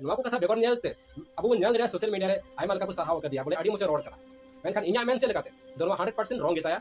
ᱱᱚᱣᱟ ᱠᱚ ᱠᱟᱛᱷᱟ ᱵᱮᱜᱚᱨ ᱧᱮᱞᱛᱮ ᱟᱵᱚ ᱵᱚᱱ ᱧᱮᱞ ᱫᱟᱲᱮᱭᱟᱜᱼᱟ ᱥᱳᱥᱟᱞ ᱢᱤᱰᱤᱭᱟ ᱨᱮ ᱟᱭᱢᱟ ᱞᱮᱠᱟ ᱠᱚ ᱥᱟᱨᱦᱟᱣ ᱟᱠᱟᱫᱮᱭᱟ ᱵᱚᱞᱮ ᱟᱹᱰᱤ ᱢᱚᱡᱽ ᱮ ᱨᱚᱲ ᱠᱟᱱᱟ ᱢᱮᱱᱠᱷᱟᱱ ᱤᱧᱟᱹᱜ ᱢᱮᱱ ᱥᱮᱫ ᱞᱮᱠᱟᱛᱮ ᱫᱚ ᱱᱚᱣᱟ ᱦᱟᱱᱰᱨᱮᱰ ᱯᱟᱨᱥᱮᱱᱴ ᱨᱚᱝ ᱜᱮᱛᱟᱭᱟ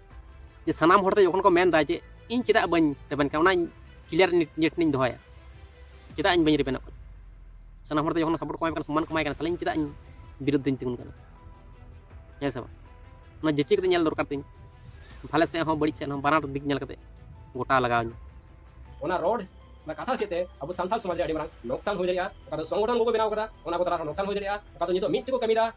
ᱡᱮ ᱥᱟᱱᱟᱢ ᱦᱚᱲ ᱛᱮ ᱡᱚᱠᱷᱚᱱ ᱠᱚ ᱢᱮᱱ ᱫᱟ ᱡᱮ ᱤᱧ ᱪᱮᱫᱟᱜ ᱵᱟᱹᱧ ᱨᱮᱵᱮᱱ ᱠᱟᱱᱟ ᱚᱱᱟ ᱠᱞᱤᱭᱟᱨ ᱱᱤᱭᱟᱹ ᱴᱷᱮᱱᱤᱧ ᱫᱚᱦᱚᱭᱟ ᱪᱮᱫᱟᱜ ᱤᱧ ᱵᱟᱹᱧ ᱨᱮᱵᱮᱱᱚᱜ ᱠᱟᱱᱟ ᱥᱟᱱᱟᱢ ᱦᱚᱲ ᱛᱮ ᱡᱚᱠᱷᱚᱱ ᱥᱟᱯᱳᱨᱴ ᱠᱚ ᱮᱢᱟᱭ ᱠᱟᱱᱟ ᱥᱚᱢᱢᱟᱱ ᱠᱚ ᱮᱢᱟᱭ ᱠᱟᱱᱟ ᱛᱟᱦᱞᱮ ᱤᱧ ᱪᱮᱫᱟᱜ ᱤᱧ ᱵᱤᱨᱩᱫᱽ ᱫᱚᱧ ᱛᱤᱸᱜᱩᱱ ᱠᱟᱱᱟ ᱦᱮᱸ ᱥᱮ ᱵᱟᱝ ᱚᱱᱟ ᱡᱟᱹᱪᱤ ᱠᱟᱛᱮ ᱧᱮᱞ ᱫᱚᱨᱠᱟᱨ ᱛᱤᱧ ᱵᱷᱟᱞᱮ ᱥᱮᱫ ᱦᱚᱸ ᱵᱟᱹᱲᱤᱡ ᱥᱮᱫ ᱦᱚᱸ ᱵᱟᱱᱟᱨ ᱫᱤᱠ ᱧᱮᱞ ᱠᱟᱛᱮ ᱜᱚᱴᱟ ᱞᱟᱜᱟᱣ ᱤᱧ ᱚᱱᱟ ᱨᱚᱲ ᱚᱱᱟ ᱠᱟᱛᱷᱟ ᱥᱮᱫ ᱛᱮ ᱟᱵᱚ ᱥᱟᱱᱛᱟᱲ ᱥᱚᱢᱟᱡᱽ ᱨᱮ ᱟᱹᱰᱤ ᱢᱟᱨᱟᱝ ᱱᱚᱠᱥᱟᱱ ᱦᱩᱭ ᱫᱟᱲᱮᱭᱟᱜᱼᱟ ᱚᱠᱟ ᱫᱚ ᱥᱚᱝᱜᱚᱴᱷᱚᱱ ᱠᱚᱠᱚ ᱵᱮᱱᱟᱣ ᱠᱟᱫᱟ ᱚᱱᱟ ᱠᱚ ᱛᱟᱞᱟ ᱨᱮ ᱱᱚᱠᱥᱟᱱ ᱦᱩᱭ ᱫᱟᱲᱮᱭᱟᱜᱼᱟ ᱚᱠᱟ ᱫᱚ ᱱᱤᱛᱚᱜ ᱢᱤᱫ ᱛᱮᱠᱚ ᱠᱟᱹᱢᱤᱭᱮᱫᱟ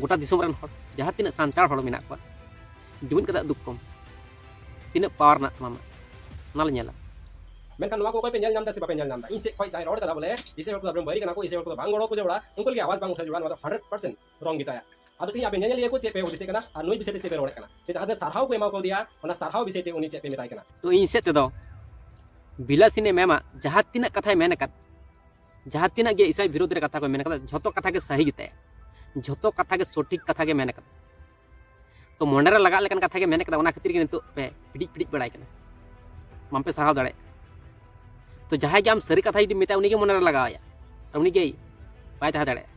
ᱜᱚᱴᱟ ᱫᱤᱥᱚᱢ ᱨᱮᱱ ᱦᱚᱲ ᱡᱟᱦᱟᱸ ᱛᱤᱱᱟᱹᱜ ᱥᱟᱱᱛᱟᱲ ᱦᱚᱲ ᱢᱮᱱᱟᱜ ᱠᱚᱣᱟ ᱡᱩᱢᱤᱫ ᱠᱟᱛᱮ ᱫᱩᱠ ᱠᱚᱢ ᱛᱤᱱᱟᱹᱜ ᱯᱟᱣᱟᱨ ᱢᱮᱱᱟᱜ ᱛᱟᱢᱟ ᱚᱱᱟ ᱞᱮ ᱧᱮᱞᱟ ᱢᱮᱱᱠᱷᱟᱱ ᱱᱚᱣᱟ ᱠᱚ ᱚᱠᱚᱭ ᱯᱮ ᱧᱮᱞ ᱧᱟᱢ ᱫᱟ ᱥᱮ ᱵᱟᱯᱮ ᱧᱮᱞ ᱧᱟᱢ ᱫᱟ ᱤᱧ ᱥᱮᱫ ᱠᱷᱚᱱ ᱡᱟᱦᱟᱸᱭ ᱨᱚᱲ ᱠᱟᱫᱟ ᱵᱚᱞᱮ ᱤᱥᱮ ᱦᱚᱲ ᱠᱚᱫᱚ ᱟᱵᱚᱨᱮᱱ ᱵᱟᱹᱭᱨᱤ ᱠᱟᱱᱟ ᱠᱚ ᱤᱥᱮ ᱦᱚᱲ ᱠᱚᱫᱚ ᱵᱟᱝ ᱜᱚᱲᱚ ᱠᱚ ᱡᱚᱲᱟ ᱩᱱᱠᱩ ᱞᱟᱹᱜᱤᱫ ᱟᱣᱟᱡᱽ ᱵᱟᱝ ᱩᱴᱷᱟᱹᱣ ᱡᱚᱲᱟ ᱱᱚᱣᱟ ᱫᱚ ᱦᱟᱱᱰᱨᱮᱰ ᱯᱟᱨᱥᱮᱱᱴ ᱨᱚᱝ ᱜᱮᱛᱟᱭᱟ ᱟᱫᱚ ᱛᱮᱦᱮᱧ ᱟᱯᱮ ᱧᱮᱧᱮᱞᱤᱭᱟᱹ ᱠᱚ ᱪᱮᱫ ᱯᱮ ᱦᱩᱫᱤᱥᱮᱫ ᱠᱟᱱᱟ ᱟᱨ ᱱᱩᱭ ᱵᱤᱥᱚᱭ ᱛᱮ ᱪᱮᱫ ᱯᱮ ᱨᱚᱲᱮᱫ ᱠᱟᱱᱟ ᱥᱮ ᱡᱟᱦᱟᱸ ᱛᱤᱱᱟᱹᱜ ᱥᱟᱨᱦᱟᱣ ᱠᱚ ᱮᱢᱟ ᱠᱟᱣᱫᱮᱭᱟ ᱚᱱᱟ ᱥᱟᱨᱦᱟᱣ ᱵᱤᱥᱚᱭ ᱛᱮ ᱩᱱᱤ ᱪᱮᱫ ᱯᱮ ᱢᱮᱛᱟᱭ ᱠᱟᱱᱟ ᱛᱚ ᱤᱧ ᱥᱮᱫ ᱛᱮᱫᱚ ᱵᱤᱞᱟᱥᱤᱱᱤ ᱢᱮᱢᱟᱜ ᱡᱟᱦᱟᱸ ᱛᱤᱱᱟᱹᱜ ᱠᱟᱛᱷᱟᱭ ᱢᱮᱱ ᱟᱠᱟᱫ ᱡᱟᱦᱟᱸ ᱛᱤᱱᱟᱹᱜ ᱜᱮ ᱤᱥᱟᱭ ᱵᱤᱨᱳᱫᱷ ᱨᱮ ᱠᱟᱛᱷᱟ ᱠᱚ ᱢᱮᱱ ᱠᱟᱫᱟ ᱡᱷᱚᱛᱚ ᱠᱟᱛᱷᱟ ᱜᱮ ᱥᱟᱹᱦᱤ ᱜᱮᱛᱟᱭᱟ ᱡᱷᱚᱛᱚ ᱠᱟᱛᱷᱟ ᱜᱮ ᱥᱚᱴᱷᱤᱠ ᱠᱟᱛᱷᱟ ᱜᱮ ᱢᱮᱱ ᱠᱟᱫᱟ ᱛᱚ ᱢᱚᱱᱮ ᱨᱮ ᱞᱟᱜᱟᱜ ᱞᱮᱠᱟᱱ ᱠᱟᱛᱷᱟ ᱜᱮ ᱢᱮᱱ ᱠᱟᱫᱟ ᱚᱱᱟ ᱠᱷᱟᱹᱛᱤᱨ ᱜᱮ ᱱᱤᱛᱚᱜ ᱯᱮ ᱯᱤᱰᱤᱡ ᱯᱤᱰᱤᱡ ᱵᱟᱲᱟᱭ ᱠᱟᱱᱟ ᱵᱟᱝ ᱯᱮ ᱥᱟᱦᱟᱣ ᱫᱟᱲᱮᱭᱟᱜ ᱛᱚ ᱡᱟᱦᱟᱸᱭ ᱜᱮ ᱟᱢ ᱥᱟᱹᱨᱤ ᱠᱟᱛᱷᱟ ᱡᱩᱫᱤ ᱢᱮᱛᱟᱭᱟ ᱩᱱᱤ ᱜᱮ ᱢᱚᱱᱮ ᱨᱮ ᱞᱟᱜᱟᱣᱟᱭᱟ ᱟᱨ ᱩᱱᱤ ᱜᱮ ᱵᱟᱭ ᱛᱟᱦᱮᱸ ᱫᱟᱲᱮᱭᱟᱜᱼᱟ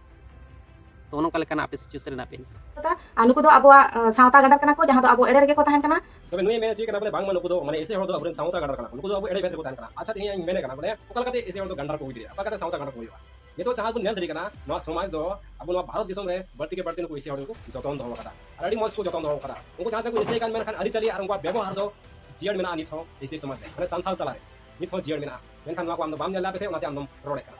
ᱛᱚ ᱚᱱᱠᱟ ᱞᱮᱠᱟᱱᱟᱜ ᱟᱯᱮ ᱥᱤᱪᱩᱭᱮᱥᱚᱱ ᱨᱮ ᱢᱮᱱᱟᱜ ᱯᱮᱭᱟ ᱱᱤᱛᱚᱜ ᱟᱨ ᱱᱩᱠᱩ ᱫᱚ ᱟᱵᱚᱣᱟᱜ ᱥᱟᱶᱛᱟ ᱜᱟᱰᱟᱨ ᱠᱟᱱᱟ ᱠᱚ ᱡᱟᱦᱟᱸ ᱫᱚ ᱟᱵᱚ ᱮᱲᱮ ᱨᱮᱜᱮ ᱠᱚ ᱛᱟᱦᱮᱱ ᱠᱟᱱᱟ ᱛᱚᱵᱮ ᱱᱩᱭ ᱢᱮᱱ ᱦᱚᱪᱚᱭ ᱠᱟᱱᱟ ᱵᱚᱞᱮ ᱵᱟᱝᱢᱟ ᱱᱩᱠᱩ ᱫᱚ ᱢᱟᱱᱮ ᱮᱥᱮ ᱦᱚᱲ ᱫᱚ ᱟᱵᱚᱨᱮᱱ ᱥᱟᱶᱛᱟ ᱜᱟᱰᱟᱨ ᱠᱟᱱᱟ ᱱᱩᱠᱩ ᱫᱚ ᱟᱵᱚ ᱮᱲᱮ ᱵᱮᱛ ᱨᱮᱠᱚ ᱛᱟᱦᱮᱱ ᱠᱟᱱᱟ ᱟᱪᱪᱷᱟ ᱛᱮᱦᱮᱧ ᱤᱧ ᱢᱮᱱᱮ ᱠᱟᱱᱟ ᱵᱚᱞᱮ ᱚᱠᱟ ᱞᱮᱠᱟᱛᱮ ᱮᱥᱮ ᱦᱚᱲ ᱫᱚ ᱜᱟᱰᱟᱨ ᱠᱚ ᱦᱩᱭ ᱫᱟᱲᱮᱭᱟᱜᱼᱟ ᱚᱠᱟ ᱞᱮᱠᱟᱛᱮ ᱥᱟᱶᱛᱟ ᱜᱟᱰᱟᱨ ᱠᱚ ᱦᱩᱭᱩᱜᱼᱟ ᱱᱤᱛᱚᱜ ᱡᱟᱦᱟᱸ ᱵᱚᱱ ᱧᱮᱞ ᱫᱟᱲᱮ ᱠᱟᱱᱟ ᱱᱚᱣᱟ ᱥᱚᱢᱟᱡᱽ ᱫᱚ ᱟᱵᱚ ᱱᱚᱣᱟ ᱵᱷᱟᱨᱚᱛ ᱫᱤᱥᱚᱢ ᱨᱮ ᱵᱟᱹᱲᱛᱤ ᱜᱮ ᱵᱟᱹᱲᱛᱤ ᱱᱩᱠᱩ ᱮᱥᱮ ᱦᱚᱲ ᱠᱚ ᱡᱚᱛᱚᱱ ᱫᱚᱦᱚ ᱠᱟᱫᱟ ᱟᱨ ᱟᱹᱰᱤ ᱢᱚᱡᱽ ᱠᱚ ᱡᱚᱛᱚᱱ ᱫᱚᱦᱚ ᱠᱟᱫᱟ ᱩᱱᱠᱩ ᱡᱟᱦᱟᱸ ᱛᱤᱱᱟᱹᱜ ᱠᱚ ᱮᱥᱮ ᱠᱟᱱ ᱢᱮᱱᱠᱷᱟᱱ ᱟᱹᱨᱤᱪᱟᱹᱞᱤ ᱟᱨ ᱩᱱᱠᱩᱣᱟᱜ ᱵᱮᱵᱚᱦᱟᱨ ᱫᱚ ᱡᱤᱭᱟᱹᱲ ᱢᱮᱱᱟᱜᱼᱟ ᱱᱤᱛ ᱦᱚᱸ ᱮᱥᱮ ᱥᱚᱢᱟᱡᱽ ᱨᱮ ᱢᱟᱱᱮ ᱥᱟᱱᱛᱟᱲ ᱛᱟᱞᱟᱨᱮ ᱱᱤᱛ ᱦᱚᱸ ᱡᱤᱭᱟᱹᱲ ᱢᱮᱱᱟᱜᱼᱟ ᱢᱮᱱᱠᱷᱟᱱ ᱱᱚᱣᱟ ᱠᱚ ᱟᱢ ᱫᱚ ᱵᱟᱢ ᱧᱮᱞ ᱞᱮᱫᱟ ᱯᱮᱥᱮ ᱚᱱᱟᱛᱮ ᱟᱢ ᱫᱚᱢ ᱨᱚᱲᱮᱫ ᱠᱟᱱᱟ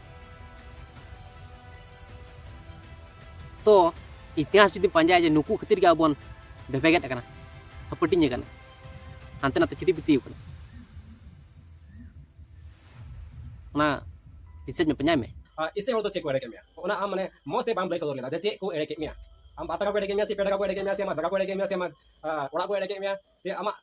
ᱛᱚ ᱤᱛᱤᱦᱟᱥ ᱡᱩᱫᱤ ᱯᱟᱸᱡᱟᱭᱟ ᱡᱮ ᱱᱩᱠᱩ ᱠᱷᱟᱹᱛᱤᱨ ᱜᱮ ᱟᱵᱚ ᱵᱚᱱ ᱵᱷᱮᱵᱮᱜᱮᱫ ᱟᱠᱟᱱᱟ ᱦᱟᱹᱯᱟᱹᱴᱤᱧ ᱟᱠᱟᱱᱟ ᱦᱟᱱᱛᱮ ᱱᱟᱛᱮ ᱪᱷᱤᱛᱤ ᱵᱤᱛᱤ ᱟᱠᱟᱱᱟ ᱚᱱᱟ ᱨᱤᱥᱟᱨᱪ ᱢᱮ ᱯᱟᱸᱡᱟᱭ ᱢᱮ ᱤᱥᱮ ᱦᱚᱲ ᱫᱚ ᱪᱮᱫ ᱠᱚ ᱮᱲᱮ ᱠᱮᱫ ᱢᱮᱭᱟ ᱚᱱᱟ ᱟᱢ ᱢᱟᱱᱮ ᱢᱚᱡᱽ ᱛᱮ ᱵᱟᱢ ᱞᱟᱹᱭ ᱥᱚᱫᱚᱨ ᱞᱮᱫᱟ ᱡᱮ ᱪᱮᱫ ᱠᱚ ᱮᱲᱮ ᱠᱮᱫ ᱢᱮᱭᱟ ᱟᱢ ᱵᱟᱨ ᱴᱟᱠᱟ ᱠᱚ ᱮᱲᱮ ᱠᱮᱫ ᱢᱮᱭᱟ ᱥᱮ ᱯᱮ ᱴᱟᱠᱟ ᱠᱚ ᱮᱲᱮ ᱠᱮᱫ ᱢᱮᱭᱟ ᱥᱮ ᱟᱢᱟᱜ ᱡᱟᱭᱜᱟ ᱠᱚ ᱮᱲᱮ ᱠᱮᱫ ᱢᱮᱭᱟ ᱥᱮ ᱟᱢᱟᱜ ᱚᱲᱟᱜ ᱠᱚ ᱮᱲᱮ ᱠᱮᱫ ᱢᱮᱭᱟ ᱥᱮ ᱟᱢᱟᱜ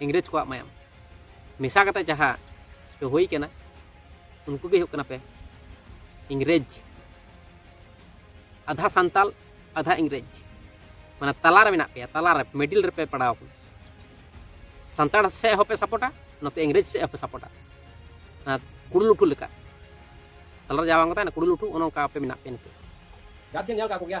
ᱤᱝᱨᱮᱡᱽ ᱠᱚᱣᱟᱜ ᱢᱟᱭᱟᱢ ᱢᱮᱥᱟ ᱠᱟᱛᱮ ᱡᱟᱦᱟᱸ ᱯᱮ ᱦᱩᱭ ᱠᱟᱱᱟ ᱩᱱᱠᱩ ᱜᱮ ᱦᱩᱭᱩᱜ ᱠᱟᱱᱟ ᱯᱮ ᱤᱝᱨᱮᱡᱽ ᱟᱫᱷᱟ ᱥᱟᱱᱛᱟᱞ ᱟᱫᱷᱟ ᱤᱝᱨᱮᱡᱽ ᱢᱟᱱᱮ ᱛᱟᱞᱟ ᱨᱮ ᱢᱮᱱᱟᱜ ᱯᱮᱭᱟ ᱛᱟᱞᱟ ᱨᱮ ᱢᱤᱰᱤᱞ ᱨᱮᱯᱮ ᱯᱟᱲᱟᱣ ᱠᱟᱱᱟ ᱥᱟᱱᱛᱟᱲ ᱥᱮᱫ ᱦᱚᱸᱯᱮ ᱥᱟᱯᱚᱴᱟ ᱱᱚᱛᱮ ᱤᱝᱨᱮᱡᱽ ᱥᱮᱫ ᱦᱚᱸᱯᱮ ᱥᱟᱯᱚᱴᱟ ᱠᱩᱲᱩ ᱞᱩᱴᱷᱩ ᱞᱮᱠᱟ ᱛᱟᱞᱟ ᱨᱮ ᱡᱟᱦᱟᱸ ᱵᱟᱝ ᱛᱟᱦᱮᱱᱟ ᱠᱩᱲᱩ ᱞᱩᱴᱷᱩ ᱚᱱᱮ ᱚᱱᱠᱟ ᱯᱮ ᱢᱮᱱᱟᱜ ᱯᱮᱭᱟ ᱱᱤᱛᱚᱜ ᱡᱟᱦᱟᱸ ᱥᱮᱫ ᱧᱮᱞ ᱠᱟᱜ ᱠᱚᱜᱮᱭᱟ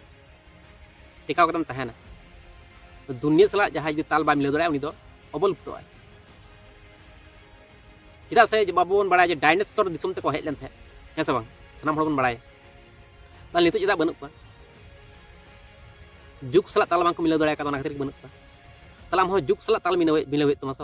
ᱴᱮᱠᱟᱣ ᱠᱟᱛᱮᱢ ᱛᱟᱦᱮᱱᱟ ᱫᱩᱱᱤᱭᱟᱹ ᱥᱟᱞᱟᱜ ᱡᱟᱦᱟᱸᱭ ᱡᱩᱫᱤ ᱛᱟᱞ ᱵᱟᱭ ᱢᱤᱞᱟᱹᱣ ᱫᱟᱲᱮᱭᱟᱜᱼᱟ ᱩᱱᱤ ᱫᱚ ᱚᱵᱚᱞᱩᱯᱛᱚᱜᱼᱟᱭ ᱪᱮᱫᱟᱜ ᱥᱮ ᱵᱟᱵᱚ ᱵᱚᱱ ᱵᱟᱲᱟᱭᱟ ᱡᱮ ᱰᱟᱭᱱᱮᱥᱚᱨ ᱫᱤᱥᱚᱢ ᱛᱮᱠᱚ ᱦᱮᱡ ᱞᱮᱱ ᱛᱟᱦᱮᱸᱫ ᱦᱮᱸ ᱥᱮ ᱵᱟᱝ ᱥᱟᱱᱟᱢ ᱦᱚᱲ ᱵᱚᱱ ᱵᱟᱲᱟᱭᱟ ᱛᱟᱦᱚᱞᱮ ᱱᱤᱛᱚᱜ ᱪᱮᱫᱟᱜ ᱵᱟᱹᱱᱩᱜ ᱠᱚᱣᱟ ᱡᱩᱜᱽ ᱥᱟᱞᱟᱜ ᱛᱟᱞ ᱵᱟᱝᱠᱚ ᱢᱤᱞᱟᱹᱣ ᱫᱟᱲᱮ ᱟᱠᱟᱫᱟ ᱚᱱᱟ ᱠᱷᱟᱹᱛᱤᱨ ᱵᱟᱹᱱᱩᱜ ᱠᱚᱣᱟ ᱛᱟᱦᱚᱞᱮ ᱟᱢ ᱦᱚᱸ ᱡᱩᱜᱽ ᱥᱟᱞᱟᱜ ᱛᱟᱞ ᱢᱤᱞᱟᱹᱣ ᱢᱤᱞᱟᱹᱣ ᱦᱩᱭᱩᱜ ᱛᱟᱢᱟ ᱥᱮ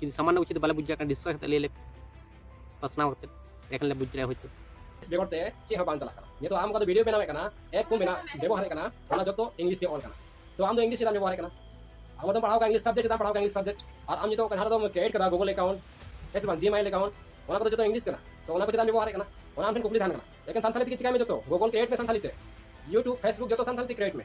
ᱡᱩᱫᱤ ᱥᱟᱢᱟᱱᱱᱚ ᱠᱤᱪᱷᱩ ᱵᱟᱞᱮ ᱵᱩᱡᱽ ᱫᱟᱲᱮᱭᱟᱜ ᱠᱟᱱᱟ ᱰᱤᱥᱠᱟᱥ ᱠᱟᱛᱮ ᱞᱟᱹᱭ ᱞᱮ ᱯᱟᱥᱱᱟᱣ ᱠᱟᱛᱮ ᱮᱠᱷᱟᱱ ᱞᱮ ᱵᱩᱡᱽ ᱫᱟᱲᱮᱭᱟᱜᱼᱟ ᱦᱚᱭᱛᱳ ᱵᱮᱜᱚᱨ ᱛᱮ ᱪᱮᱫ ᱦᱚᱸ ᱵᱟᱝ ᱪᱟᱞᱟᱜ ᱠᱟᱱᱟ ᱱᱤᱛᱚᱜ ᱟᱢ ᱚᱠᱟ ᱫᱚ ᱵᱷᱤᱰᱤᱭᱳ ᱵᱮᱱᱟᱣᱮᱫ ᱠᱟᱱᱟ ᱮᱯ ᱠᱚ ᱢᱮᱱᱟᱜ ᱵᱮᱵᱚᱦᱟᱨᱮᱫ ᱠᱟᱱᱟ ᱚᱱᱟ ᱡᱚᱛᱚ ᱤᱝᱞᱤᱥ ᱛᱮ ᱚᱞ ᱠᱟᱱᱟ ᱛᱚ ᱟᱢ ᱫᱚ ᱤᱝᱞᱤᱥ ᱪᱮᱫᱟᱜ ᱵᱮᱵᱚᱦᱟᱨᱮᱫ ᱠᱟᱱᱟ ᱟᱢ ᱫᱚ ᱯᱟᱲᱦᱟᱣ ᱠᱟᱱᱟ ᱤᱝᱞᱤᱥ ᱥᱟᱵᱡᱮᱠᱴ ᱪᱮᱫᱟᱜ ᱯᱟᱲᱦᱟᱣ ᱠᱟᱱᱟ ᱤᱝᱞᱤᱥ ᱥᱟᱵᱡᱮᱠᱴ ᱟᱨ ᱟᱢ ᱱᱤᱛᱚᱜ ᱡᱟᱦᱟᱸ ᱫᱚᱢ ᱠᱨᱤᱭᱮᱴ ᱠᱟᱫᱟ ᱜᱩᱜᱚᱞ ᱮᱠᱟᱣᱩᱱᱴ ᱦᱮᱸ ᱥᱮ ᱵᱟᱝ ᱡᱤᱢᱮᱞ ᱮᱠᱟᱣᱩᱱᱴ ᱚᱱᱟ ᱠᱚᱫᱚ ᱡᱚᱛᱚ ᱤᱝᱞᱤᱥ ᱠᱟᱱᱟ ᱛᱚ ᱚᱱᱟ ᱠᱚ ᱪᱮᱫᱟᱜ ᱵᱮᱵᱚᱦᱟᱨᱮᱫ ᱠᱟᱱᱟ ᱚᱱᱟ ᱟᱢ ᱴᱷᱮᱱ ᱠᱩᱠᱞᱤ ᱛᱟᱦᱮᱱ ᱠᱟᱱᱟ ᱮᱠᱮᱱ ᱥᱟᱱᱛᱟᱲᱤ ᱛᱮᱜᱮ ᱪᱤᱠᱟᱭ ᱢᱮ ᱡᱚᱛᱚ ᱜᱩᱜᱚᱞ ᱠᱨᱤᱭᱮᱴ ᱢᱮ ᱥᱟᱱᱛᱟᱲᱤ ᱛᱮ ᱤᱭᱩᱴᱩᱵᱽ ᱯᱷᱮᱥᱵᱩᱠ ᱡᱚᱛᱚ ᱥᱟᱱᱛᱟᱲᱤ ᱛᱮ ᱠᱨᱤᱭᱮᱴ ᱢᱮ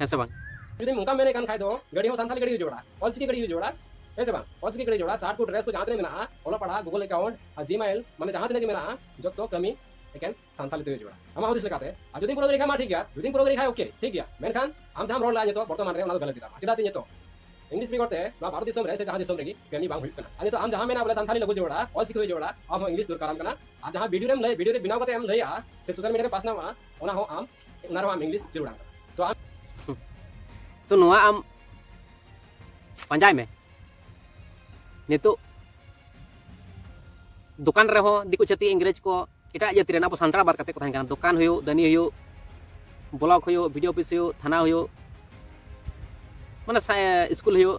ᱦᱮᱸ ᱥᱮ ᱵᱟᱝ ᱡᱩᱫᱤ ᱚᱱᱠᱟ ᱢᱮᱱᱮ ᱠᱟᱱ ᱠᱷᱟᱡ ᱫᱚ ᱜᱟᱹᱰᱤ ᱦᱚᱸ ᱥᱟᱱᱛᱟᱞᱤ ᱜᱟᱹᱰᱤ ᱡᱚᱲᱟ ᱚᱞᱪᱤᱠᱤ ᱜᱟᱹᱰᱤ ᱡᱚᱲᱟ ᱦᱮᱸ ᱥᱮ ᱵᱟᱝ ᱚᱞᱪᱤᱠᱤ ᱜᱟᱹᱰᱤ ᱡᱚᱲᱟ ᱥᱟᱨᱴ ᱠᱚ ᱰᱨᱮᱥ ᱠᱚ ᱡᱟᱦᱟᱸ ᱛᱤᱱᱟᱹᱜ ᱢᱮᱱᱟᱜᱼᱟ ᱚᱞᱚᱜ ᱯᱟᱲᱦᱟᱜ ᱜᱩᱜᱚᱞ ᱮᱠᱟᱣᱩᱱᱴ ᱟᱨ ᱡᱤᱢᱮᱞ ᱢᱟᱱᱮ ᱡᱟᱦᱟᱸ ᱛᱤᱱᱟᱹᱜ ᱜᱮ ᱢᱮᱱᱟᱜᱼᱟ ᱡᱚᱛᱚ ᱠᱟᱹᱢᱤ ᱮᱠᱮᱱ ᱥᱟᱱᱛᱟᱞᱤ ᱛᱮᱜᱮ ᱡᱚᱲᱟ ᱟᱢᱟᱜ ᱦᱩᱫᱤᱥ ᱞᱮᱠᱟᱛᱮ ᱟᱨ ᱡᱩᱫᱤ ᱯᱩᱨᱟᱹ ᱞᱮᱠᱷᱟᱡ ᱢᱟ ᱴᱷᱤᱠ ᱜᱮᱭᱟ ᱡᱩᱫᱤ ᱯᱩᱨᱟᱹ ᱞᱮᱠᱷᱟᱡ ᱳᱠᱮ ᱴᱷᱤᱠ ᱜᱮᱭᱟ ᱢᱮᱱᱠᱷᱟᱱ ᱟᱢ ᱡᱟᱦᱟᱸᱢ ᱨᱚᱲ ᱞᱮᱫᱟ ᱱᱤᱛᱚᱜ ᱵᱚᱨᱛᱚᱢᱟᱱ ᱨᱮ ᱚᱱᱟ ᱫᱚ ᱜᱟᱞᱟᱛ ᱜᱮᱛᱟᱢᱟ ᱪᱮᱫᱟᱜ ᱥᱮ ᱱᱤᱛᱚᱜ ᱤᱝᱞᱤᱥ ᱵᱮᱜᱚᱨ ᱛᱮ ᱱᱚᱣᱟ ᱵᱷᱟᱨᱚᱛ ᱫᱤᱥᱚᱢ ᱨᱮ ᱥᱮ ᱡᱟᱦᱟᱸ ᱫᱤᱥᱚᱢ ᱨᱮᱜᱮ ᱠᱟᱹᱢᱤ ᱵᱟᱝ ᱦᱩᱭᱩᱜ ᱠᱟᱱᱟ ᱟᱨ ᱱᱤᱛᱚᱜ ᱟᱢ ᱡᱟᱦᱟᱸ ᱢᱮᱱᱟ ᱵᱚᱞᱮ ᱥᱟᱱᱛᱟᱞᱤ ᱞᱟᱹᱜᱩ ᱡᱚᱲᱟ ᱚᱞᱪᱤᱠᱤ ᱦᱩᱭ ᱡᱚᱲᱟ ᱟᱢ ᱦᱚᱸ ᱤᱝᱞᱤᱥ ᱫᱚᱨᱠᱟᱨᱟᱢ ᱠᱟᱱᱟ ᱟᱨ ᱡᱟᱦᱟᱸ ᱵᱷᱤᱰᱤᱭᱳ ᱨᱮᱢ ᱞᱟᱹᱭ ᱵᱷᱤᱰᱤᱭᱳ ᱨᱮ ᱵᱮᱱᱟᱣ ᱠᱟᱛᱮ ᱮᱢ ᱞᱟᱹᱭᱟ ᱥᱮ ᱥᱳᱥᱟᱞ ᱢᱤᱰᱤᱭᱟ ᱨᱮ ᱯᱟᱥᱱᱟᱣᱟ ᱚᱱᱟ ᱦᱚᱸ ᱟᱢ ᱚᱱᱟ ᱨᱮᱦᱚᱸ ᱟᱢ ᱤᱝᱞᱤᱥ ᱡᱟᱹᱨᱩᱲᱟᱢ ᱛᱚ ᱟᱢ ᱛᱚ ᱱᱚᱣᱟ ᱟᱢ ᱯᱟᱸᱡᱟᱭ ᱢᱮ ᱱᱤᱛᱚᱜ ᱫᱚᱠᱟᱱ ᱨᱮᱦᱚᱸ ᱫᱤᱠᱩ ᱪᱷᱟᱹᱛᱤᱠ ᱤᱝᱨᱮᱡᱽ ᱠᱚ ᱮᱴᱟᱜ ᱡᱟᱹᱛᱤ ᱨᱮᱱ ᱟᱵᱚ ᱥᱟᱱᱛᱟᱲ ᱵᱟᱫ ᱠᱟᱛᱮ ᱠᱚ ᱛᱟᱦᱮᱱ ᱠᱟᱱᱟ ᱫᱚᱠᱟᱱ ᱦᱩᱭᱩᱜ ᱫᱟᱹᱱᱤ ᱦᱩᱭᱩᱜ ᱵᱞᱚᱠ ᱦᱩᱭᱩᱜ ᱵᱷᱤᱰᱤᱭᱳ ᱚᱯᱷᱤᱥ ᱦᱩᱭᱩᱜ ᱛᱷᱟᱱᱟ ᱦᱩᱭᱩᱜ ᱢᱟᱱᱮ ᱥᱠᱩᱞ ᱦᱩᱭᱩᱜ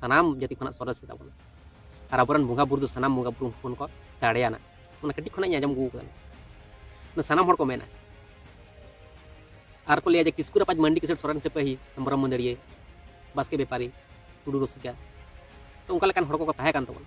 ᱥᱟᱱᱟᱢ ᱡᱟᱹᱛᱤ ᱠᱷᱚᱱᱟᱜ ᱥᱚᱨᱮᱥ ᱜᱮᱛᱟ ᱵᱚᱱᱟ ᱟᱨ ᱟᱵᱚᱨᱮᱱ ᱵᱚᱸᱜᱟ ᱵᱩᱨᱩ ᱫᱚ ᱥᱟᱱᱟᱢ ᱵᱚᱸᱜᱟ ᱵᱩᱨᱩ ᱦᱚᱯᱚᱱ ᱠᱚ ᱫᱟᱲᱮᱭᱟᱱᱟ ᱚᱱᱟ ᱠᱟᱹᱴᱤᱡ ᱠᱷᱚᱱᱟᱜ ᱤᱧ ᱟᱸᱡᱚᱢ ᱟᱹᱜᱩ ᱟᱠᱟᱫᱟ ᱚᱱᱟ ᱥᱟᱱᱟᱢ ᱦᱚᱲ ᱠᱚ ᱢᱮᱱᱟ ᱟᱨ ᱠᱚ ᱞᱟᱹᱭᱟ ᱡᱮ ᱠᱤᱥᱠᱩ ᱨᱟᱯᱟᱡᱽ ᱢᱟᱱᱰᱤ ᱠᱤᱥᱟᱹᱬ ᱥᱚᱨᱮᱱ ᱥᱮᱯᱟᱹᱦᱤ ᱦᱮᱢᱵᱨᱚᱢ ᱢᱟᱹᱫᱟᱹᱲᱤᱭᱟᱹ ᱵᱟᱥᱠᱮ ᱵᱮᱯᱟᱨᱤ ᱴᱩᱰᱩ ᱨᱩᱥᱤᱠᱟ ᱛᱚ ᱚᱱᱠᱟ ᱞᱮᱠᱟᱱ ᱦᱚᱲ ᱠᱚᱠᱚ ᱛᱟᱦᱮᱸ ᱠᱟᱱ ᱛᱟᱵᱚᱱᱟ